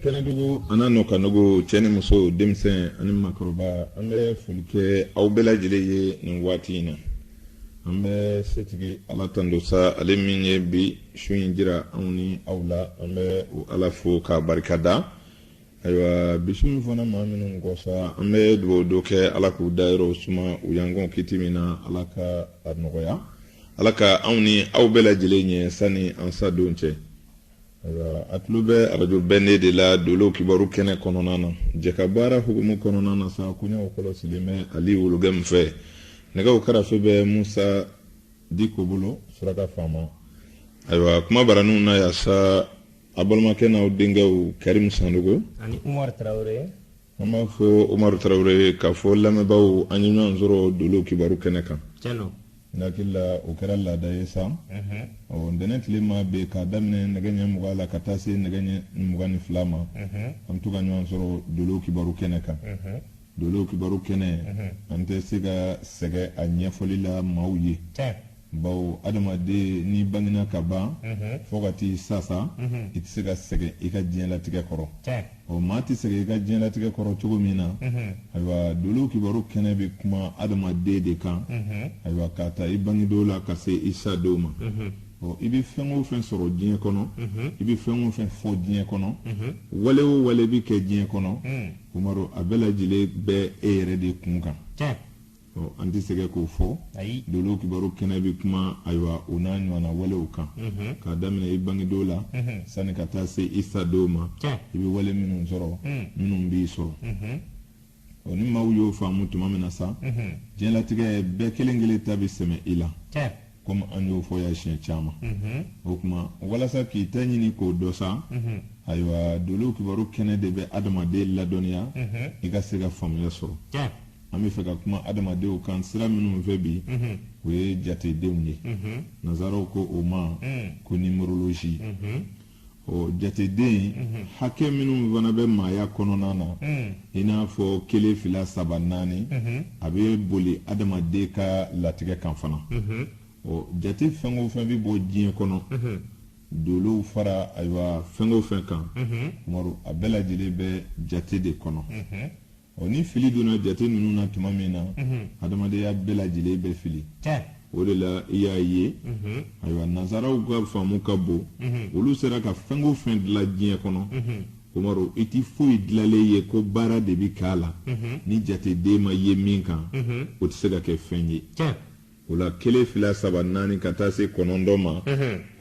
kɛnɛdugu an'a nɔ ka nogo cɛ ni muso denmisɛn ani makɔrɔba an bɛ foli kɛ aw bɛɛ lajɛlen ye nin waati in na an bɛ setigi ala tando sa ale min ye bi su in jira anw ni aw la an bɛ o ala fo k'a barika da ayiwa bisimila fana maa minnu kɔsa an bɛ dugawu dɔ kɛ ala k'u dayɔrɔ suma u y'an kɔn kiti min na ala ka a nɔgɔya ala ka anw ni aw bɛɛ lajɛlen ɲɛ sani an sadon cɛ ayiwa a tulo bɛ arajo bɛndɛ la dolo kibaru kɛnɛ kɔnɔna na jɛka baara hukumu kɔnɔna na sa koɲɛw kɔlɔsilen bɛ ali wologɛmu fɛ nɛgɛw karafe bɛ musa diko bolo suraka faama ayiwa kuma baraninw na yan sa a balimakɛ n'aw denkɛw karimu sandogo ani umaru tarawele an b'a fɔ umaru tarawele k'a fɔ lamɛnbaaw an ye ɲɔgɔn sɔrɔ dolo kibaru kɛnɛ kan tiɲɛ don n hakili la o kɛra laada ye sa ɔ ntɛnɛn tilema bɛ k'a daminɛ nɛgɛ ɲɛ mugan la ka taa se nɛgɛ ɲɛ mugan ni fila ma an bɛ to ka ɲɔgɔn sɔrɔ dolo kibaru kɛnɛ kan dolo kibaru kɛnɛ an tɛ se ka sɛgɛ a ɲɛfɔli la maaw ye bawo adamaden n'i bangena ka ban fo ka t'i sa sa i tɛ se ka sɛgɛn i ka diɲɛlatigɛ kɔrɔ ɔ maa tɛ sɛgɛn i ka diɲɛlatigɛ kɔrɔ cogo min na ayiwa dolo kibaru kɛnɛ bɛ kuma adamaden de kan ayiwa k'a ta i bangedon la ka se i sadon ma ɔ i bɛ fɛn o fɛn sɔrɔ diɲɛ kɔnɔ i bɛ fɛn o fɛn fɔ diɲɛ kɔnɔ wale o wale bɛ kɛ diɲɛ kɔnɔ umaru a bɛɛ lajɛlen bɛ e yɛrɛ de kun kan an tɛ sɛgɛ k'o fɔ dolo kibaru kɛnɛ bɛ kuma ayiwa o n'a ɲɔgɔnna walew kan k'a daminɛ i bangedon la sani ka taa se i sadon ma i bɛ wale minnu sɔrɔ minnu b'i sɔrɔ ɔ ni maaw y'o faamu tuma min na sa diɲɛlatigɛ bɛɛ kelen kelen ta bɛ sɛmɛ i la komi an y'o fɔ yan siɲɛ caman mhm. o tuma walasa k'i ta ɲini k'o dɔn sa mhm. ayiwa dolo kibaru kɛnɛ de bɛ adamaden ladɔnniya mhm. i ka se ka faamuya sɔrɔ an bɛ fɛ ka kuma adamadenw kan sira minnu fɛ bi o ye jatedenw ye nansaraw ko o ma ko numérologie o jateden mhm. hakɛ minnu fana bɛ maaya kɔnɔna na mhm. i n'a fɔ kelen fila saba naani mhm. a bɛ boli adamaden ka latigɛ kan fana ɔ jate fɛn o fɛn bɛ bɔ diɲɛ kɔnɔ dolow fara ayiwa fɛn o fɛn kan umaru a bɛɛ lajɛlen bɛ jate de kɔnɔ ɔ ni fili donna jate ninnu na tuma min na hadamadenya bɛɛ lajɛlen bɛ fili o de la i y'a ye ayiwa nansaraw ka faamu ka bon olu sera ka fɛn o fɛn dilan diɲɛ kɔnɔ Umaru i tɛ foyi dilanlen ye ko baara de bɛ k'a la ni jateden ma ye min kan o tɛ se ka kɛ fɛn ye O la kelen fila saba naani ka taa se kɔnɔntɔn ma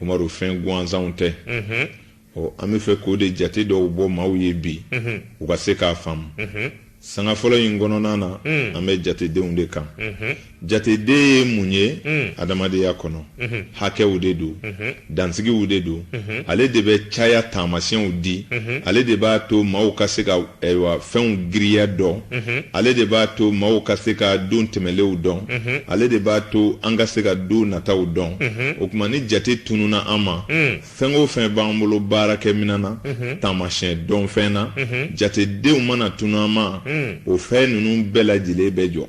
Umaru fɛn gansanw tɛ ɔ an bɛ fɛ k'o de jate dɔw bɔ maaw ye bi u ka se k'a faamu sanga fɔlɔ in kɔnɔna na an bɛ jatedenw de kan jateden ye mun ye adamadenya kɔnɔ hakɛw de don dansigiw de don ale de bɛ caya taamasiyɛnw di ale de b'a to maaw ka se ka ayiwa fɛnw giriya dɔn mhm. ale de b'a to maaw ka se ka don tɛmɛlenw dɔn mhm. ale de b'a to an ka se ka don nataw dɔn mhm. o tuma ni jate tununa an ma mm. fɛn o fɛn b'an bolo baarakɛminɛn na taamasiyɛn dɔnfɛn na jatedenw mana tunu an ma mm. o fɛn ninnu bɛɛ lajɛlen bɛ jɔ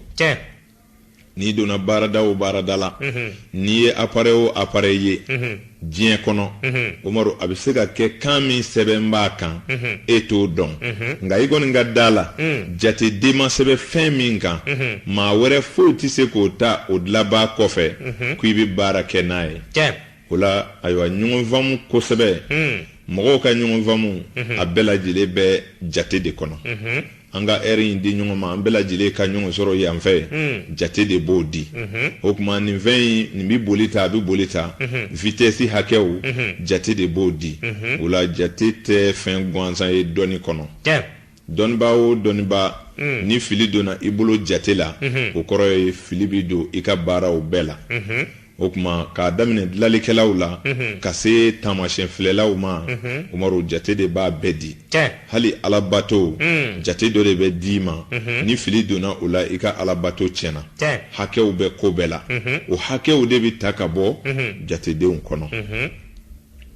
n'i donna baarada o baarada la n'i ye apare o apare ye diɲɛ kɔnɔ Umaru a bɛ se ka kɛ kan min sɛbɛn b'a kan e t'o dɔn nka i kɔni ka da a la jateden ma sɛbɛn fɛn min kan maa wɛrɛ foyi tɛ se k'o ta o dilanbaa kɔfɛ k'i bɛ baara kɛ n'a ye o la ayiwa ɲɔgɔn faamu kosɛbɛ hmm. mɔgɔw ka ɲɔgɔn faamu mhm. a bɛɛ lajɛlen bɛ jate de kɔnɔ mhm. an ka ɛri in di ɲɔgɔn ma an bɛɛ lajɛlen ka ɲɔgɔn sɔrɔ yan fɛ hmm. jate de b'o di mhm. o tuma nin fɛn in nin bɛ boli ta a bɛ boli ta vitɛsi hakɛw jate de b'o di o la jate tɛ fɛn gansan ye dɔnni kɔnɔ dɔnnibaa o dɔnnibaa mm. ni fili donna i bolo jate la mm-hmm. o kɔrɔ ye fili bɛ don i ka baaraw bɛɛ la mm-hmm. o tuma k'a daminɛ dilalikɛlaw la mm-hmm. ka se taamasiyɛn filɛlaw ma Umaru jate de b'a bɛɛ di hali alabato mm. jate dɔ de bɛ d'i ma ni fili donna o la i ka alabato tiɲɛna hakɛw bɛ ko bɛɛ la o hakɛw de bɛ ta ka bɔ jatedenw kɔnɔ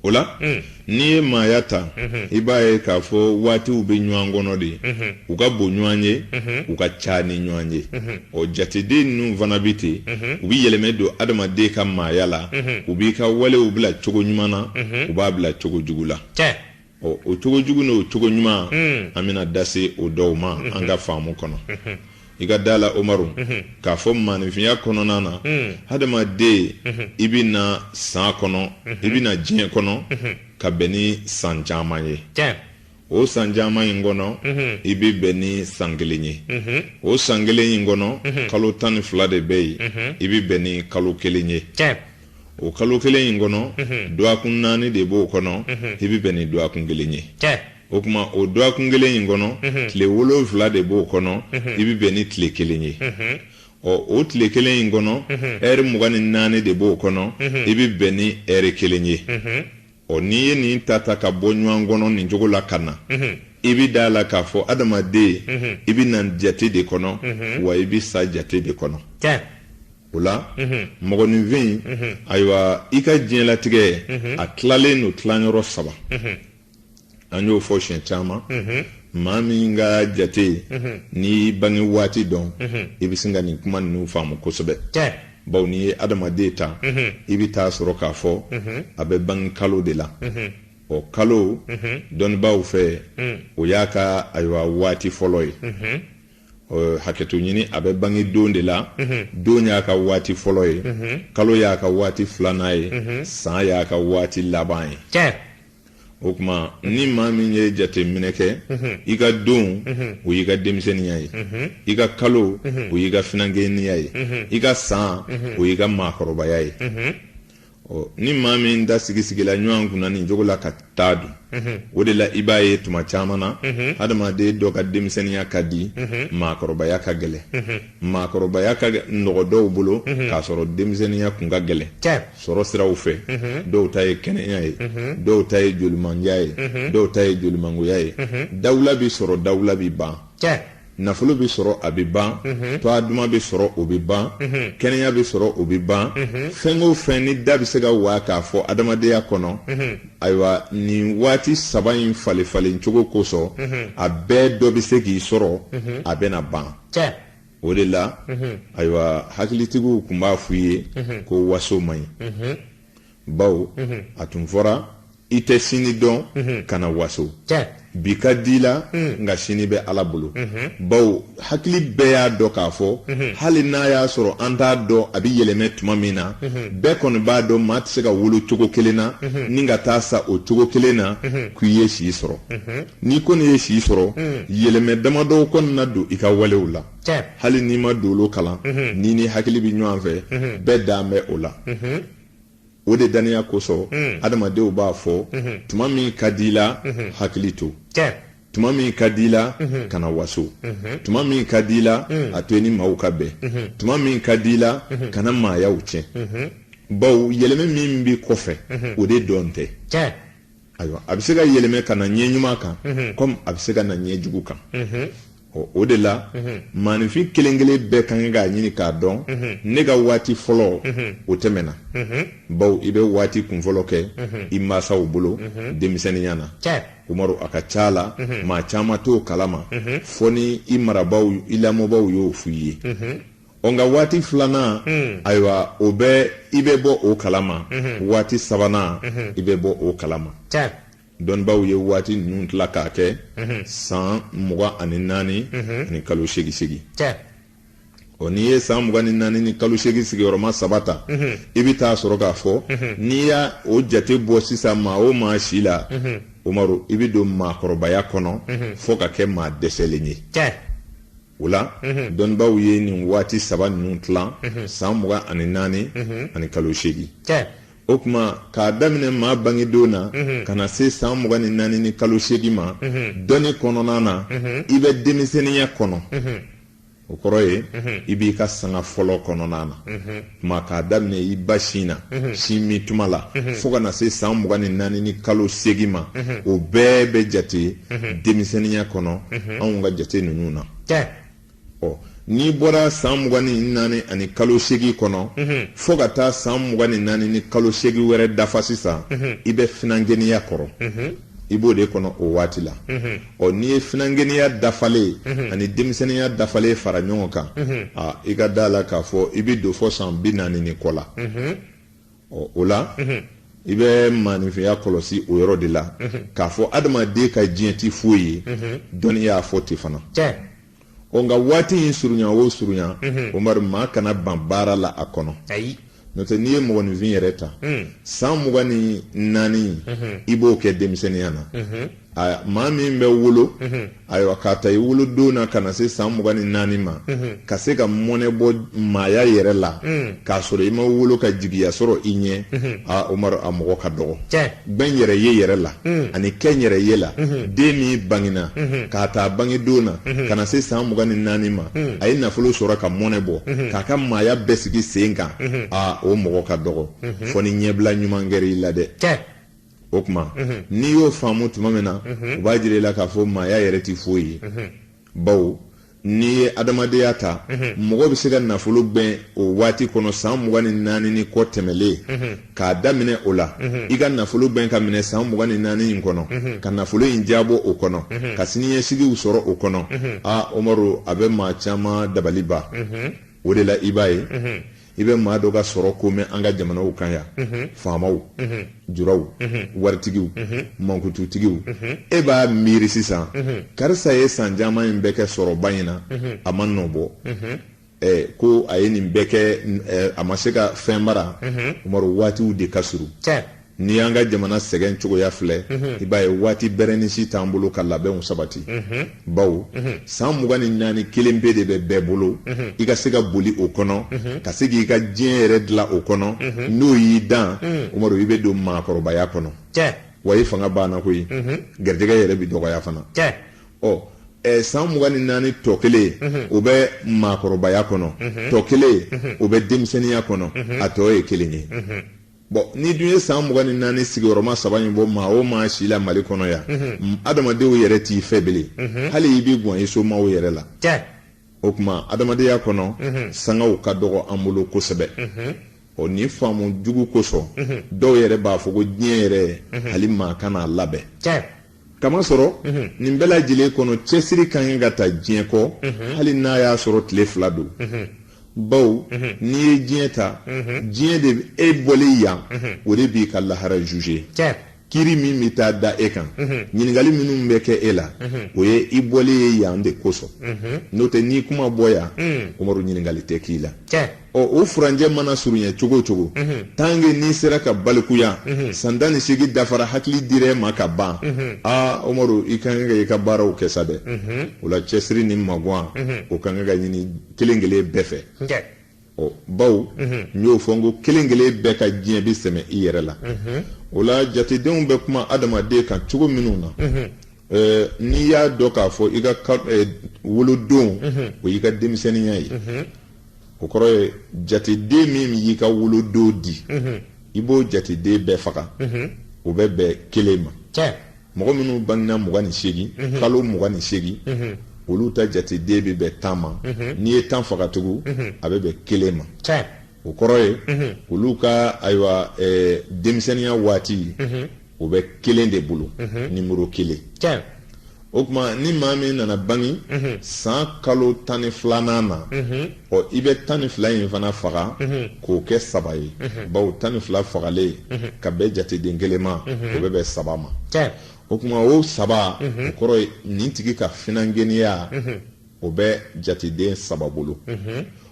o la mm. n'i ye maaya ta mm-hmm. i b'a ye k'a fɔ waatiw bɛ ɲɔgɔn kɔnɔ de mm-hmm. u ka bon ɲɔgɔn ye mm-hmm. u ka ca ni ɲɔgɔn ye o jateden ninnu fana bɛ ten u bɛ yɛlɛmɛ don adamaden ka maaya la u b'i ka walew bila cogo ɲuman na u b'a bila cogo jugu la ɔ o cogo jugu n'o cogo ɲuman hmm. an bɛna da se o dɔw ma hmm. an ka faamu kɔnɔ hmm. i ka da la Umaru k'a fɔ maaninfinya kɔnɔna na hadamaden i bɛ na san kɔnɔ i bɛ na diɲɛ kɔnɔ ka bɛn ni san caman ye o san caman in kɔnɔ mhm. i bɛ bɛn ni san kelen ye mhm. o san kelen in kɔnɔ mhm. kalo tan ni fila de bɛ yen i bɛ bɛn ni kalo kelen ye o kalo kelen in kɔnɔ mhm. dɔgɔkun naani de b'o kɔnɔ mhm. i bɛ bɛn ni dɔgɔkun kelen ye o tuma o dɔgɔkun kelen in kɔnɔ mhm. tile wolonfila de b'o kɔnɔ i bɛ bɛn ni tile kelen ye ɔ o tile kelen in kɔnɔ ɛri mugan ni naani de b'o kɔnɔ i bɛ bɛn ni ɛri kelen ye ɔ n'i ye nin ta ta ka bɔ ɲɔgɔn kɔnɔ nin cogo la ka na i bɛ da a la k'a fɔ adamaden i bɛ na jate de kɔnɔ wa i bɛ sa jate de kɔnɔ. o la mɔgɔninfin ayiwa i ka diɲɛlatigɛ a tilalen don tilayɔrɔ saba an y'o fɔ siɲɛ caman maa min ka jate n'i bange waati dɔn i bɛ se ka nin kuma ninnu faamu kosɛbɛ bawo n'i ye adamaden ta i bɛ taa sɔrɔ k'a fɔ a bɛ bange kalo de la o kalo dɔnnibaaw fɛ o y'a ka ayiwa waati fɔlɔ ye hakɛto ɲini a bɛ bange don de la don y'a ka waati fɔlɔ ye kalo y'a ka waati filanan ye san y'a ka waati laban ye o tuma ni maa min ye jateminɛ kɛ i ka don o y'i ka denmisɛnninya ye i ka kalo o y'i ka finankɛninya ye i ka san o y'i ka maakɔrɔbaya ye ɔ ni maa min ta sigisigila ɲɔgɔn kunna nin cogo la ka taa dun mhm. o de la i b'a ye tuma caman na mhm. hadamaden dɔ ka denmisɛnninya ka di mhm. maakɔrɔbaya ka gɛlɛ maakɔrɔbaya ka nɔgɔ dɔw bolo k'a sɔrɔ denmisɛnninya kun ka gɛlɛ sɔrɔ siraw fɛ dɔw ta ye kɛnɛya ye dɔw ta ye jolimandiya ye dɔw ta ye jolimangoya ye dawula bi sɔrɔ dawula bi ban nafolo bɛ sɔrɔ a bɛ ban toa duman bɛ sɔrɔ o bɛ ban kɛnɛya bɛ sɔrɔ o bɛ ban fɛn o fɛn n'i da bɛ se ka waa k'a fɔ adamadenya kɔnɔ ayiwa nin waati saba in falen falen cogo kosɔn a bɛɛ dɔ bɛ se k'i sɔrɔ a bɛna ban o de la ayiwa hakilitigiw tun b'a f' i ye ko waso man ɲi bawo mhm. a tun fɔra i tɛ sini dɔn mhm. kana waso bi ka di i la mhm. nka sini bɛ ala bolo bawo hakili bɛɛ y'a dɔn k'a fɔ hali n'a y'a sɔrɔ an t'a dɔn a bɛ yɛlɛmɛ tuma min na bɛɛ kɔni b'a dɔn maa tɛ se ka wolo cogo kelen na ni ka taa sa o cogo kelen na k'i ye si sɔrɔ n'i kɔni ye si sɔrɔ yɛlɛmɛ damadɔw kɔni na don i ka walew la hali n'i ma dolo kalan n'i ni hakili bɛ ɲɔgɔn fɛ bɛɛ dan bɛ o la o de daniya kosɔn hmm. adamadenw b'a fɔ hmm. tuma min ka di i la hmm. hakili to tuma min ka di i la kana waso tuma min ka di i la a to i ni maaw ka bɛn tuma min ka di i la kana maayaw tiɲɛ bawo yɛlɛmɛ min bɛ kɔfɛ o de dɔn tɛ ayiwa a bɛ se ka yɛlɛmɛ ka na ɲɛ ɲuman kan kɔmi a bɛ se ka na ɲɛ jugu kan o de la maaninfin kelen kelen bɛɛ ka kan k'a ɲini k'a dɔn ne ka waati fɔlɔ o tɛmɛna bawo i bɛ waati kunfɔlɔ kɛ i mansaw bolo denmisɛnninya na umaru a ka ca la maa caman t'o kalama fɔ ni i marabaaw i lamɔbaaw y'o f' i ye ɔ nka waati filanan hmm. ayiwa o bɛ i bɛ bɔ o kalama hmm. waati sabanan hmm. i bɛ bɔ o kalama dɔnnibaaw ye waati ninnu tila k'a kɛ san mugan ani naani ani kalo seegin seegin ɔ n'i ye san mugan ni naani ni kalo seegin sigiyɔrɔma saba ta i bɛ taa sɔrɔ k'a fɔ n'i y'a o jate bɔ sisan maa o maa si la Umaru i bɛ don maakɔrɔbaya kɔnɔ fo ka kɛ maa dɛsɛlen ye. o la dɔnnibaaw ye nin waati saba ninnu tilan san mugan ani naani ani kalo seegin o kuma k'a daminɛ maa bangedon na ka na se san mugan ni naani ni kalo seegin ma dɔnni kɔnɔna na i bɛ denmisɛnninya kɔnɔ o kɔrɔ ye i b'i ka sanga fɔlɔ kɔnɔna na tuma k'a daminɛ i ba sin na mhm. sin min tuma la mhm. fo ka na se san mugan ni naani ni kalo seegin ma mhm. o bɛɛ bɛ jate denmisɛnninya kɔnɔ anw ka jate ninnu na ɔ n'i bɔra san mugan ni naani ani kalo seegin kɔnɔ fo ka taa san mugan ni naani ni kalo seegin wɛrɛ dafa sisan i bɛ finankɛniya kɔrɔ i b'o de kɔnɔ o waati la ɔ n'i ye finankɛniya dafalen mhm. ani denmisɛnninya dafalen fara ɲɔgɔn kan mhm. a i ka da a la k'a fɔ i bɛ don fɔ san bi naani ni kɔ la mhm. ɔ o la i bɛ maaninfinya kɔlɔsi o yɔrɔ de la k'a fɔ adamaden ka diɲɛ ti foyi ye dɔnni y'a fɔ ten fana o nka waati in surunya o surunya mhm. Umaru maa kana ban baara la a kɔnɔ ayi n'o tɛ n'i ye mɔgɔninfin yɛrɛ ta mm. san mugan ni naani mhm. i b'o kɛ denmisɛnninya na mhm. aya maa min bɛ wolo ayiwa k'a ta i wolodon na ka na se san mugan ni naani ma ka se ka mɔnɛ bɔ maaya yɛrɛ la mm. k'a sɔrɔ i ma wolo ka jigiya sɔrɔ i ɲɛ a Umaru a mɔgɔ ka dɔgɔ gbɛn yɛrɛ ye yɛrɛ la ani kɛ yɛrɛ ye la den min bangina k'a ta a bangedon na ka na se san mugan ni naani ma a ye nafolo sɔrɔ ka mɔnɛ bɔ k'a ka maaya bɛɛ sigi sen kan aa o mɔgɔ ka dɔgɔ fɔ ni ɲɛbila ɲuman kɛra i la dɛ o kuma n'i y'o faamu tuma min na o b'a jira i la k'a fɔ maaya yɛrɛ ti foyi ye baw n'i ye adamadenya ta mɔgɔ bɛ se ka nafolo gbɛn o waati kɔnɔ san mugan ni naani ni kɔ tɛmɛlen k'a daminɛ o la i ka nafolo gbɛn ka minɛ san mugan ni naani in kɔnɔ ka nafolo in jabɔ o kɔnɔ ka siniɲɛsigiw sɔrɔ o kɔnɔ aa Umaru a bɛ maa caman dabali ban o de la i b'a ye i bɛ maa dɔ ka sɔrɔko mɛn an ka jamanaw kan yan mhm. faamaw mhm. juraw mhm. waritigiw mankututigiw e b'a miiri sisan karisa ye san caman in bɛɛ kɛ sɔrɔba in na a ma nɔ bɔ ko a ye nin bɛɛ kɛ a ma se ka fɛn mara Umaru waatiw de ka surun N'i y'an ka jamana sɛgɛn cogoya filɛ, unhun, i b'a ye waati bɛrɛnin si t'an bolo ka labɛnw sabati, unhun, bawo, unhun, san mugan ni naani kelen pe de bɛ bɛɛ bolo, unhun, i ka se ka boli o kɔnɔ, unhun, ka se k'i ka diɲɛ yɛrɛ dilan o kɔnɔ, unhun, n'o y'i dan, un, Umaru i bɛ don maakɔrɔbaya kɔnɔ, cɛ, wa i fanga banna koyi, unhun, garijɛgɛ yɛrɛ bɛ dɔgɔya fana, cɛ, ɔ, ɛ san mugan ni naani tɔ kelen, unhun, o bɛ maakɔrɔbaya kɔnɔ, unhun, tɔ kelen, unhun, o bɛ denmisɛnninya kɔnɔ, unhun, a tɔ ye kelen ye. bɔn n'i dun ye san mugan ni naani sigiyɔrɔma saba in bɔ maa o maa si la Mali kɔnɔ yan mhm. adamadenw yɛrɛ t'i fɛ bele mhm. hali i bɛ gwan i somaw yɛrɛ la o kuma adamadenya kɔnɔ mhm. sangaw ka dɔgɔ an bolo kosɛbɛ ɔ nin faamu jugu kosɔn dɔw yɛrɛ b'a fɔ ko diɲɛ yɛrɛ hali maa kan'a labɛn k'a masɔrɔ mhm. nin bɛɛ lajɛlen kɔnɔ cɛsiri ka kan ka ta diɲɛ kɔ mhm. hali n'a y'a sɔrɔ tile fila don mhm. baw n'i ye diɲɛ ta diɲɛ de e bɔlen yan o de b'i ka lahara juge kiri min bɛ taa da e kan ɲininkali minnu bɛ kɛ e la o ye i bɔlen ye yan de kosɔn n'o tɛ n'i kun ma bɔ yan Umaru ɲininkali tɛ k'i la ɔ o furancɛ mana surunya cogo o cogo tant que n'i sera ka balikuya san tan ni seegin dafara hakili dir'e ma ka ban aa Umaru i ka kan ka i ka baaraw kɛ sa dɛ o la cɛsiri ni magan o ka kan ka ɲini kelen kelen bɛɛ fɛ ɔ baw n y'o fɔ n ko kelen kelen bɛɛ ka diɲɛ bɛ sɛmɛ i yɛrɛ la o la jatedenw bɛ kuma adamaden kan cogo minnu na Ɛɛ n'i y'a dɔn k'a fɔ i ka wolodon o y'i ka denmisɛnninya ye o kɔrɔ ye jateden min y'i ka wolodon di i b'o jateden bɛɛ faga o bɛ bɛn kelen ma mɔgɔ minnu bangena mugan ni seegin kalo mugan ni seegin olu ta jateden bɛ bɛn tan ma n'i ye tan faga tugun a bɛ bɛn kelen ma o kɔrɔ ye olu ka ayiwa denmisɛnninya waati o bɛ kelen de bolo nimɔrɔ kelen o kuma ni maa min nana bange san kalo tan ni filanan na ɔ i bɛ tan ni fila in fana faga k'o kɛ saba ye baw tan ni fila fagalen ka bɛn jateden kelen ma o bɛ bɛn saba ma o kuma o saba o kɔrɔ ye nin tigi ka finankɛninya o bɛ jateden saba bolo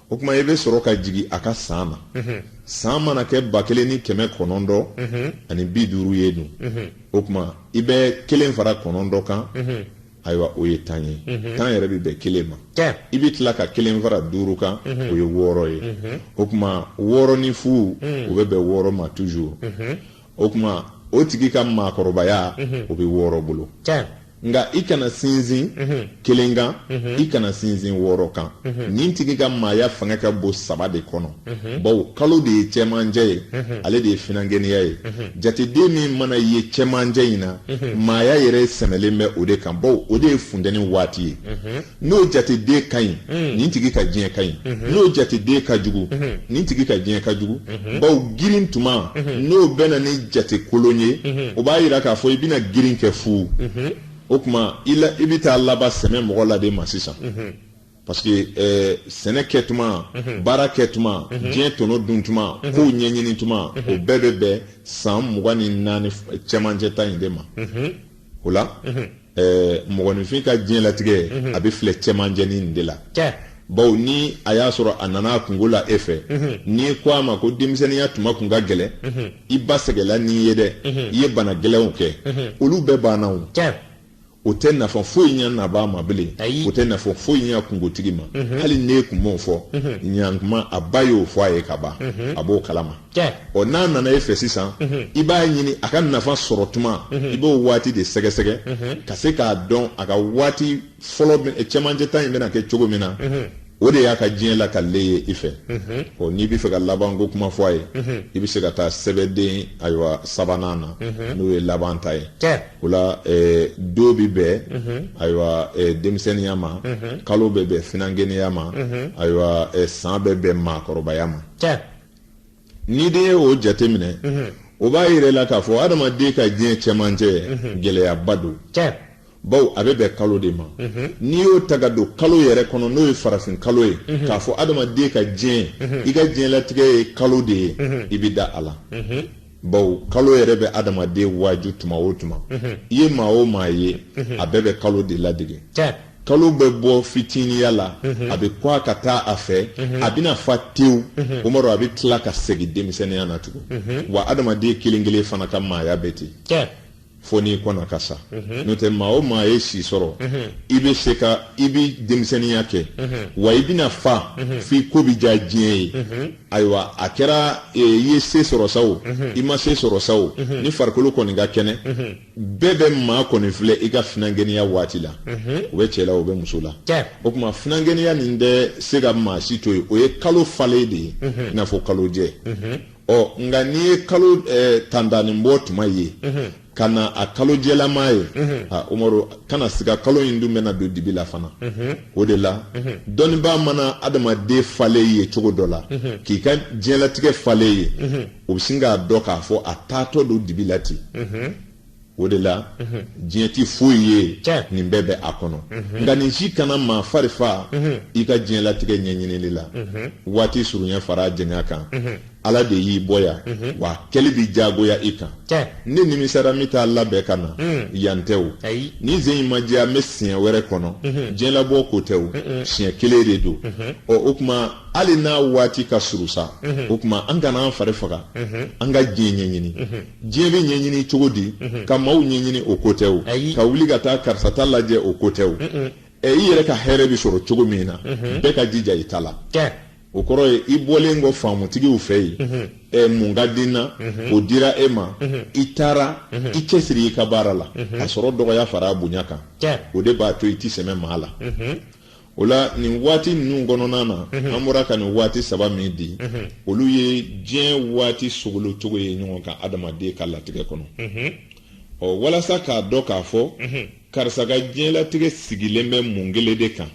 o kuma i bɛ sɔrɔ ka jigin a ka san na san mana kɛ ba kelen ni kɛmɛ kɔnɔntɔn ani bi duuru ye dun o kuma i bɛ kelen fara kɔnɔntɔn kan ayiwa o ye tan ye tan yɛrɛ bɛ bɛn kelen ma i bɛ tila ka kelen fara duuru kan o ye wɔɔrɔ ye o kuma wɔɔrɔ ni fu o bɛ bɛn wɔɔrɔ ma toujours o kuma o tigi ka maakɔrɔbaya mhm. o bɛ wɔɔrɔ bolo nka i kana sinsin mhm. kelen kan mhm. i kana sinsin wɔɔrɔ kan nin tigi ka maaya fanga ka bon saba de kɔnɔ bawo kalo de ye cɛmancɛ ye ale de ye finankɛniya ye jateden min mana ye cɛmancɛ in na maaya yɛrɛ sɛmɛlen bɛ o de kan bawo o de ye funtɛni waati ye n'o jateden ka ɲi mm. nin tigi ka diɲɛ ka ɲi mm-hmm. n'o jateden ka jugu mm-hmm. nin tigi ka diɲɛ ka jugu mm-hmm. bawo girin tuma n'o bɛ na ni jate kolon ye o b'a yira k'a fɔ i bɛna girin kɛ fu o kuma i bɛ taa laban sɛmɛ mɔgɔ la de ma sisan parce que ɛɛ eh, sɛnɛ kɛ tuma baara kɛ tuma diɲɛ tɔnɔ dun tuma kow ɲɛɲini tuma o bɛɛ bɛ bɛn san mugan ni naani cɛmancɛ ta in de ma o la. ɛɛ mɔgɔninfin ka diɲɛlatigɛ mhm. a bɛ filɛ cɛmancɛ nin de la bawo ni a y'a sɔrɔ a nana a kungo la e fɛ mhm. n'i ko a ma ko denmisɛnninya tuma kun ka gɛlɛn mhm. i ba sɛgɛla n'i ye dɛ i ye bana gɛlɛnw kɛ olu bɛɛ banna o o tɛ nafa foyi ɲɛ nabaa ma bilen o tɛ nafa foyi ɲɛ kungotigi ma hali n'e kun m'o fɔ ɲankuma a ba y'o fɔ a ye ka ban a b'o kalama ɔ n'a nana e fɛ sisan i b'a ɲini a ka nafa sɔrɔ tuma i b'o waati de sɛgɛsɛgɛ ka se k'a dɔn a ka waati fɔlɔ cɛmancɛ ta in bɛna kɛ cogo min na o de y'a ka diɲɛ lakali ye i fɛ ɔ n'i bɛ fɛ ka laban ko kuma fɔ a ye i bɛ se ka taa sɛbɛden ayiwa sabanan na n'o ye laban ta ye o la don bɛ bɛn ayiwa denmisɛnninya ma kalo bɛ bɛn finankɛniya ma ayiwa san bɛ bɛn maakɔrɔbaya ma n'i de ye o jateminɛ o b'a yira i la k'a fɔ adamaden ka diɲɛ cɛmancɛ gɛlɛyaba don bawo a bɛ bɛn kalo de ma n'i y'o ta ka don kalo yɛrɛ kɔnɔ n'o ye farafin kalo ye k'a fɔ adamaden ka diɲɛ i ka diɲɛlatigɛ ye kalo de ye i bɛ da a la bawo kalo yɛrɛ bɛ adamaden waaju tuma o tuma mhm. i ye maa o maa ye mhm. a bɛɛ bɛ kalo de ladege kalo bɛ bɔ fitiniya la mhm. a bɛ kɔgɔ ka taa a fɛ a bɛna fa tewu o ma a bɛ tila ka segin denmisɛnninya na tugun wa adamaden kelen kelen fana ka maaya bɛ ten fo n'i kɔnna ka sa mhm. n'o tɛ maa o maa ye si sɔrɔ mhm. i bɛ se ka i bɛ denmisɛnninya kɛ mhm. wa i bɛna fa f'i ko bɛ diya diɲɛ ye ayiwa a kɛra e, i ye se sɔrɔ sa o i ma se sɔrɔ sa o ni farikolo kɔni ka kɛnɛ bɛɛ bɛ maa kɔni filɛ i ka finankɛniya waati la o bɛ cɛ la o bɛ muso la o kuma finankɛniya nin tɛ se ka maa si to yen o ye kalo falen de ye i n'a fɔ kalojɛ ɔ nka n'i ye kalo tantanin bɔ tuma ye ka na a kalo jɛlama ye umaru kana siga kalo in dun bɛna don dibi la fana o de la dɔnnibaa mana adamaden falen ye cogo dɔ la k'i ka diɲɛlatigɛ falen ye o bɛ sin k'a dɔn k'a fɔ a taatɔ don dibi la ten o de la diɲɛ tɛ foyi ye nin bɛɛ bɛ a kɔnɔ nka nin si kana maa fari faga i ka diɲɛlatigɛ ɲɛɲinili la waati surunya fara janya kan ala de y'i bɔ yan wa kɛli bi jagoya i kan ne nimisara n bɛ t'a labɛn ka na yan tɛ o ni sen in ma diya n bɛ siɲɛ wɛrɛ kɔnɔ diɲɛlabɔ ko tɛ o siɲɛ kelen de don ɔ o tuma hali n'a waati ka surun sa o tuma an kana an fari faga an ka diɲɛ ɲɛɲini diɲɛ bɛ ɲɛɲini cogo di mhm. ka maaw ɲɛɲini o ko tɛ o ka wuli ka taa karisa ta lajɛ o ko tɛ o ɛ i yɛrɛ ka hɛrɛ bɛ sɔrɔ cogo min na mhm. bɛɛ ka jija i ta la o kɔrɔ ye i bɔlen kɔ faamutigiw fɛ yen mhm. ɛ mun ka di n na o dira e ma i taara i cɛsiri i ka baara la a sɔrɔ dɔgɔya fara a bonya kan o de b'a to i tɛ sɛmɛ maa la o la nin waati ninnu kɔnɔna na mhm. an bɔra ka nin waati saba min di mhm. olu ye diɲɛ waati sogolocogo ye ɲɔgɔn kan adamaden ka latigɛ kɔnɔ mhm. ɔ walasa k'a dɔn k'a fɔ karisa ka diɲɛlatigɛ sigilen bɛ mun kelen de kan